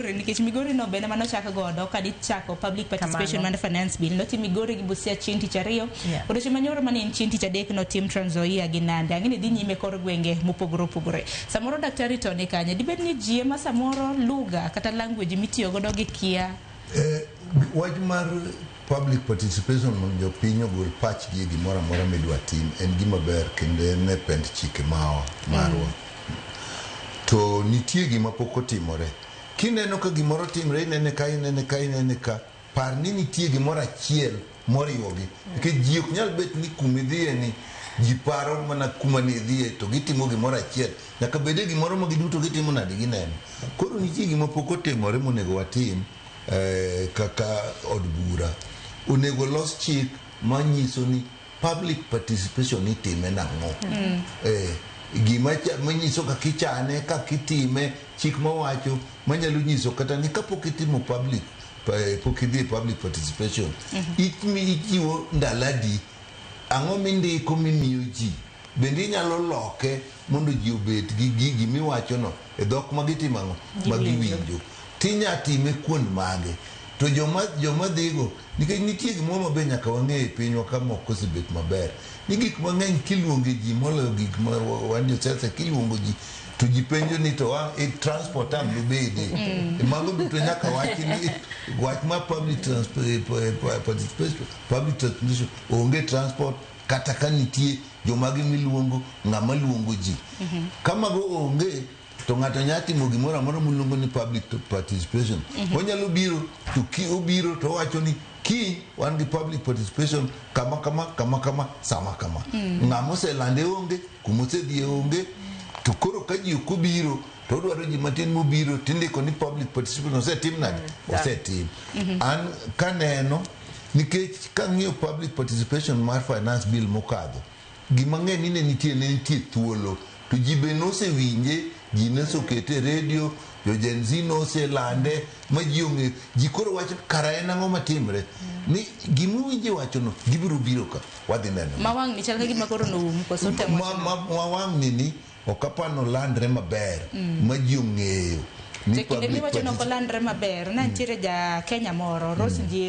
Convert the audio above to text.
Migori nikech Migori no bende mano chak godo ka dichako public participation Kamano. mar finance bill notim Migori gi Busia chieng' tich ariyo Yeah. odiochieng' manyoro mane en chieng' tich adek notim Trans Nzoia gi Nandi ang'e ni dhi nyime kor gwenge mopogore opogore samoro daktari to ni kanye dibed ni ji ema samoro lugha kata language mitiyo godo gi kia Eh, wach mar Public participation mondo jopiny ogol pachgi e gimoro amora midwa tim en gima ber kendo en e pend chike mawa marwa. To nitie gima pok otimore. Kineno ka gimoro timre inene ka inene ka inene ka, par ni nitie gimoro achiel moriwogi. Nikech ji ok nyal bet ni kuma idhiye ni ji paro mana kuma ne idhiye to gitimo gimoro achiel. Nyaka bede gimoro ma giduto gitimo nade gineno. Koro nitie gima pok otimore monego watim. eh, kaka od bura onego los chik manyiso ni public participation itime nang'o mm. eh, gima manyiso kaka ichane kaka itime chik mawacho manyalo nyiso kata ni kapok itimo public eh, pok idhi e public participation mm -hmm. ichiwo ndaladi ang'o mindiko mimiyo ji Bende inyalo loke mondo ji obet gi gigi miwachono e dhok ma gitimo ang'o? Ma giwinjo. To inya time kuond mage? To joma joma dhigo, nikech nitie gimoro ma be nyaka wang'e e pinywa ka mok osebet maber. Ni gik mang'eny kiluonge ji moloyo gik ma wan jo siasa kiluongo ji to ji penjo ni to a, e, transport ang' dobede. E mago duto nyaka wachi ni wach ma public transport, eh, eh, participation, public transportation, onge transport, kata ka nitie jomagi miluongo ng'ama luongo ji. Ka mago onge to ng'ato nyalo timo gimoro amora muluongo ni public to- participation. Onyalo biro to ki obiro to owacho ni kiny wan gi public participation kama kama kama kama sama kama. Ng'ama oselande onge, kuma osedhiye onge, to koro ka ji ok obiro to odwaro ji matin mobiro tindiko ni public participation osetim nade? Osetim. An kaneno Nikech kang'iyo public participation mar finance bill mokadho, gima ng'eny ni ne nitie ne nitie thuolo to ji be nosewinje, ji nosokete e redio, jo Gen Z noselande ma ji ong'eyo. Ji koro wacho kara en ang'o matimre ni gimuwinje wachono gibiro biro ka wadhi neno. Ma wang'ni chal ka gima koro noum koso tem Ma- wachno. ma- ma wang'ni ni ok apar nolandre maber ma ji ong'eyo ni To kinde public miwacho ni ok particip- olandre maber, ne nitiere ja Kenya moro, Rose Njeri,